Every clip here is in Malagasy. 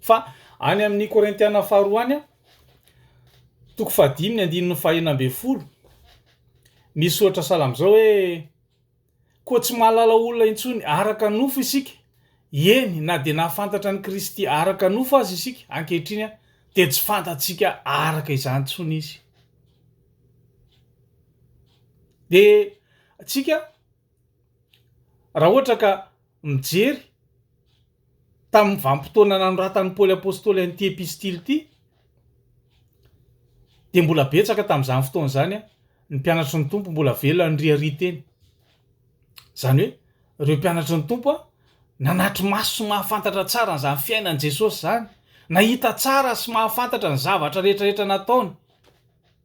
Fa any amin'ny Korintiana faharoa any, toko fahadimy ny andininy fahenina ambin'ny folo, misy soratra sahala amin'izao hoe koa tsy mahalala olona intsony araka ny nofo isika, eny na dia nahafantatra an'i Kristy araka ny nofo aza isika ankehitriny dia tsy fantatsika araka izany intsony izy. Dia antsika Raha ohatra ka mijery tamin'ny vanim-potoana nanoratan'i Paoly Apostoly an'ity epistily ity, dia mbola betsaka tamin'izany fotoana izany ny mpianatry ny Tompo mbola velona niriaria teny. Izany hoe, ireo mpianatry ny Tompo nanatry maso sy mahafantatra tsara an'izany fiainan'i Jesosy izany, nahita tsara sy mahafantatra ny zavatra rehetrarehetra nataony.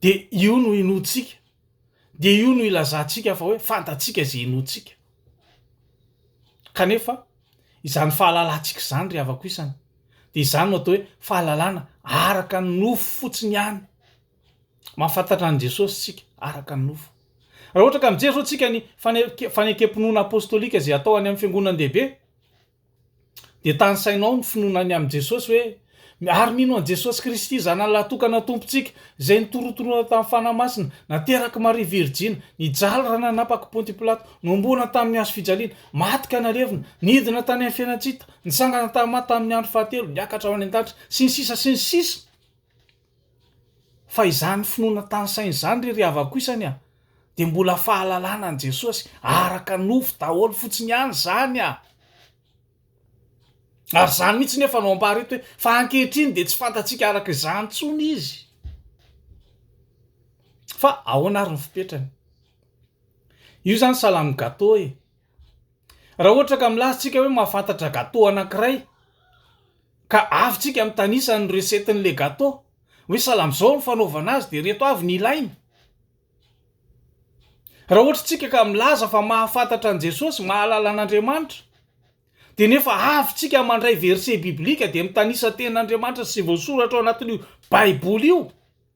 dia io no inoantsika, dia io no ilazantsika fa hoe fantatsika izay inoantsika. Kanefa izany fahalalantsika izany ry havako isany dia izany no atao hoe fahalalana araka ny nofo fotsiny ihany. Mahafantatra an'i Jesosy isika araka ny nofo. Raha ohatra ka mijery izao isika ny fanekem-pinoana apostolika izay atao any amin'ny fiangonandehibe, Dia tanisaina ao ny finoana ny amin'i Jesosy hoe, Ary mino an'i Jesosy Kristy, Zanany lahatokana Tompontsika, izay nitorontonona tamin'ny Fanahy Masina, naterak'i Maria Virjiny, nijaly raha nanapak'i Ponty Pilato, nohomboana tamin'ny hazo fijaliana, maty ka nalevina, nidina tany amin'ny fiainan-tsita, nitsangana tamin'ny maty tamin'ny andro fahatelo, niakatra ho any an-danitra, sy ny sisa sy ny sisa. Fa izany finoana tany saina izany ry ry havako isany a! dia mbola fahalalana an'i Jesosy araka nofo daholo fotsiny ihany izany a! Ary izany mihitsy nefa no ampahareta hoe fa ankehitriny dia tsy fantatsika araka izany intsony izy. Fa ahoana ary ny fipetrany? Io izany salami-gato e! Raha ohatra ka milaza tsika hoe mahafantatra gateau anankiray ka avy tsika mitanisa ny recette n'ilay gateau hoe salama izao ny fanaovana azy dia ireto avy ny ilaina. Raha ohatra tsika ka milaza fa mahafantatra an'i Jesosy, mahalala an'Andriamanitra, dia nefa avy tsika mandray verset biblique dia mitanisa tenin'Andriamanitra sy voasoratra ao anatin'io baiboly io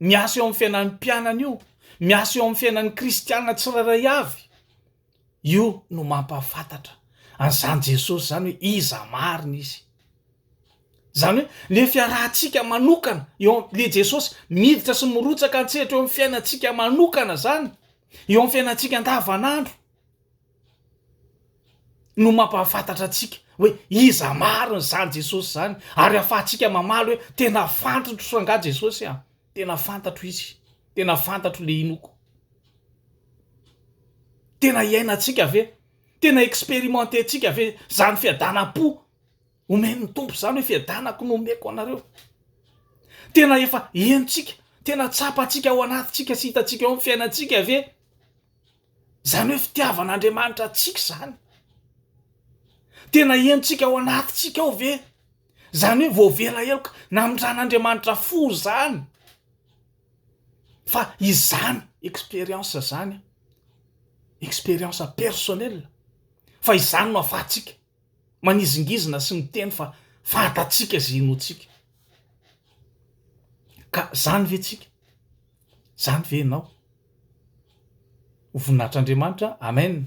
Miasa eo amin'ny fiainan'ny mpianany io, miasa eo amin'ny fiainan'ny kristiana tsirairay avy. Io no mampahafantatra an'izany Jesosy izany hoe iza marina izy. Izany hoe le fiarahantsika manokana eo le Jesosy miditra sy mirotsaka an-tsehatra eo amin'ny fiainantsika manokana izany, eo amin'ny fiainantsika andavanandro. no mampahafantatra antsika hoe iza marina izany Jesosy izany ary ahafahantsika mamaly hoe tena fantotro angaha Jesosy an! tena fantatro izy, tena fantatro le inoko, tena iainantsika ve? tena experimententsika ve izany fiadanam-po omen'ny Tompo izany hoe fiadanako no omeko anareo? tena efa henontsika, tena tsapantsika ao anatintsika sy hitantsika ao amin'ny fiainantsika ve? Izany hoe fitiavan'Andriamanitra antsika izany. Tena henontsika ao anatintsika ao ve? Izany hoe voavela heloka namindran'Andriamanitra fo izany. Fa izany expérience izany, expérience personnelle, fa izany no afahantsika manizingizina sy miteny fa fantatsika izay inoantsika. Ka izany ve tsika? Izany ve ianao? ho voninahitr'Andriamanitra Amen.